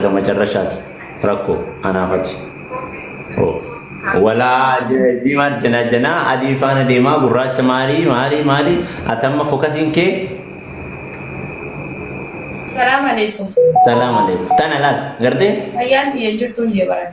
haga macarrashaati rakko anaaf ati Oh. walaa je- jii maal jenaa jenaa adii faana deemaa gurraacha maalii maalii maalii ati amma fokasiin kee Salaam alaikum. salaam alaikum tana laal gartee Ayyaan tiyya hin jirtu hin jee baran.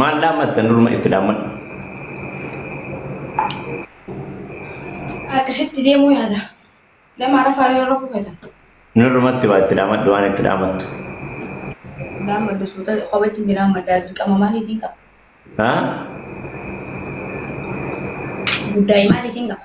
Maal dhaammatta nurma itti dhaammadhu. Akkasitti deemuu yaada. Nama rafaa yoo rafuu feetan. Nurmatti waa itti dhaammadhu waan itti dhaammattu. Dhaammadhu suuta kophatti hin dhaammaddaa dirqama maaliitiin qaba? Haa? Guddaa maaliitiin qaba?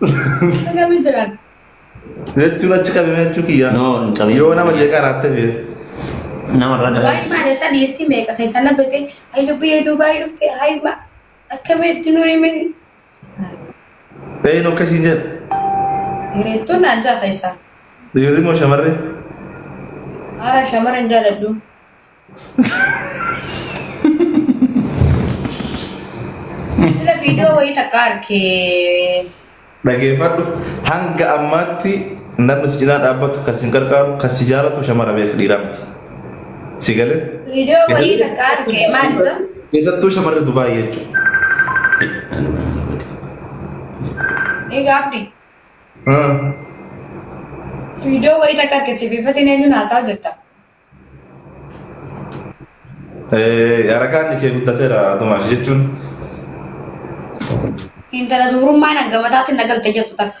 Akkamii jiran? Jechuun achi qabame jechuu kiyya. No, hin qabin. Yoo nama jeeqaa raattee fi Namarraa dhabee. Waa'ee maal isa dhiirtii meeqa keessa na beekte? Hayi lubbuu yoo Dubaayii dhufte hayi ma akkamii itti nurii mee? Eeynu akka isiin jedhu. Hiriirtuun naan ja'a keessaa. Dhiirri moo shamarree? Haala shamara hin jaaladhu. Sila viidiyoo wayii takka arkee. Dhageeffadhu hanga ammaatti namni si cinaa dhaabbatu kan sin gargaaru kan si jaalatu shamara beeka dhiiraa miti. Si gale? Video wayii takka arge maali sun? Keessattuu shamarri Dubaay jechuudha. Ni gaabdi. Video wayii takka arge sibiifatiin eenyuun haasaa jirta? Yarakaan kee guddateera Tomaash jechuun. Intala dubrummaan hanga mataatiin na galte jettu takka.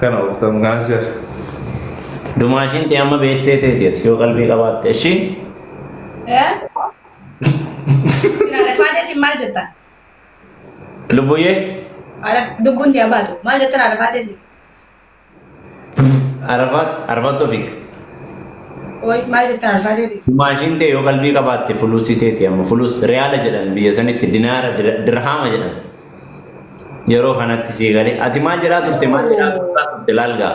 Kana oftan kana si hafe. Dumaashiin tee amma beessee teeti ati yoo qalbii qabaatte ishii. Eh? Sina rafaateetiin maal jettan? Lubbuyyee Ara dubbuun tee abaatu. Maal jettan ara rafaateetiin? arafaat arafaat tofik. Ooy maal jettan ara rafaateetiin? Dumaashiin tee yoo qalbii qabaatte fuluusii teeti amma fuluus riyaala jedhan biyya sanitti dinaara dir- dirhaama jedhan. Yeroo kanatti sii galee ati maal jedhaa turte maal jedhaa turtaa turte laal gaa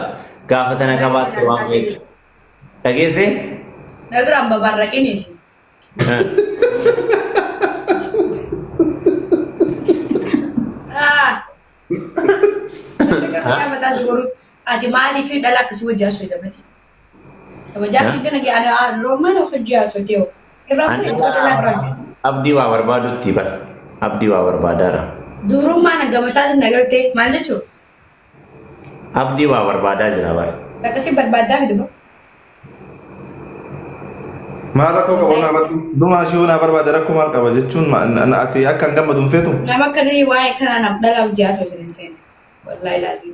gaafa tana qabaatte waan beektu. Dhageessee? Nagira amma barraqiniti. Ah. Nagira mataa si godhu ati maaliif dhala akkasii wajjin asooyita mati. Kabajaa kee gana kee ana loomaan of hojii haasotee hoo. Irraa An bu'e irraa dhalaa biraa jira. abdii waa barbaadutti bar abdii waa barbaadaara Dubrummaa na gamataatti na galtee maal jechuu? abdii waa barbaadaa jira bar Takka si barbaaddaa miti boo. Maal rakkoo qaba naa barbaadu? Dumaa ishee naa barbaada rakkoo maal qaba jechuun ma- na- na- ati akka hin gammadu hin feetu? Nama akkanii waa'ee kanaa naaf dhalaa hojii haasoo isin hin seene. Wallaahi laazim.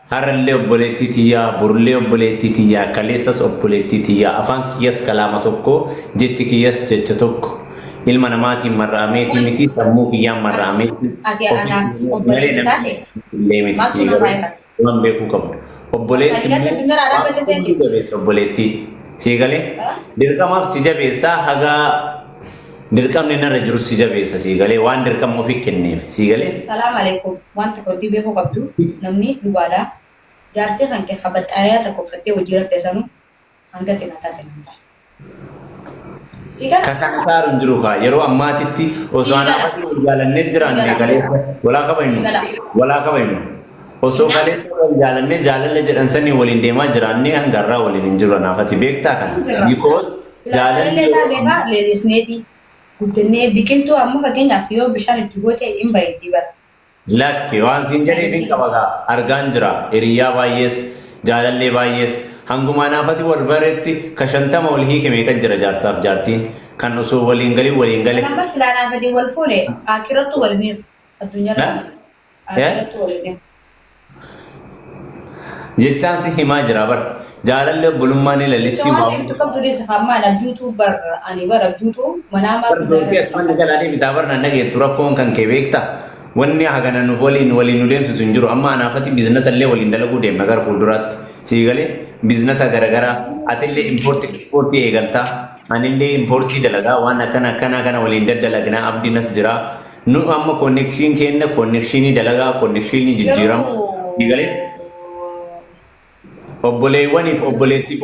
Har'allee obboleettii tiyya, borullee obboleettii tiyya, kaleessas obboleettii tiyya, afaan kiyyas kalaama tokko, jechi kiyyas jecha tokko. Ilma namaatiin marra'ameetii miti, sammuu kiyyaan marra'ameeti, ofii kiyyaaf malee namni na beekullee miti. Sii garuu waan beekuu qabdu, obboleessi immoo waan hunduu jabeessa obboleettii. Sii galee? Dirqamaaf si jabeessa haga. Dirqamni narra jirus si jabeessa sii galee waan dirqama ofi kenneef sii galee. Salaam alekum wan takka wantii beekuu qabdu namnii dhugaadha jaarsii kanke ka baxxaayaya takka uffattee wajjii raftee sanu hanga xina taate nan ta. Sii gala. Ka kana saaru hin jiru kaa yeroo ammaatitti osoo Sii anaa gala. matii wal jaalannee Sii jiraanne gala. kaleessa walaa kaba Sii hinu gala. walaa kaba hinu osoo Innaa. kaleessa wal jaalannee jaalalla jedhan sanii waliin deemaa jiraannee hanga har'aa waliin hin jiru anaafati beektaa kana Jirra. because Jaalallee isaa beekaa leellisneeti guddannee biqiltuu amma fakkeenyaaf yoo bishaan itti goote hin bareeddi bara. Lakki waan siin jedheef hin qaba gaa argaan jira hiriyyaa baayyees jaalallee baayyees hanguma anaafati wal baretti ka shantama wal hiike meeqa jira jaarsaaf jaartiin kan osoo wal hin galin waliin gale. Kan amma silaa anaafati wal fuune aakirattu wal hin hiiku addunyaa irra dhiisi. Agaratu walidha. Jechaan si himaa jira bar. Jaalalli obbolummaa ni lalistii Jecha waan waan deemtu qabdu deessa hammaan abjuutu bar ani bar abjuutu manaa maaf Bar doorkee jaalala asumaan galaa deebitaa bar nan dhageettu rakkoon kan kee beekta. Wanni hagana nuuf waliin waliin nu deemsisu hin jiru. Amma anaafati biiznasa illee waliin dalaguu deemna gara fuulduraatti. Sii galee biiznasa garagaraa atillee impoortii ispoortii eegaltaa. Anillee impoortii dalagaa waan akkana akkanaa kana waliin daddalagnaa abdiinas jiraa. Nu amma connection keenna connection dalagaa connection jijjiirama. Garuu Ni galee? Obboleewwaniif obboleettiif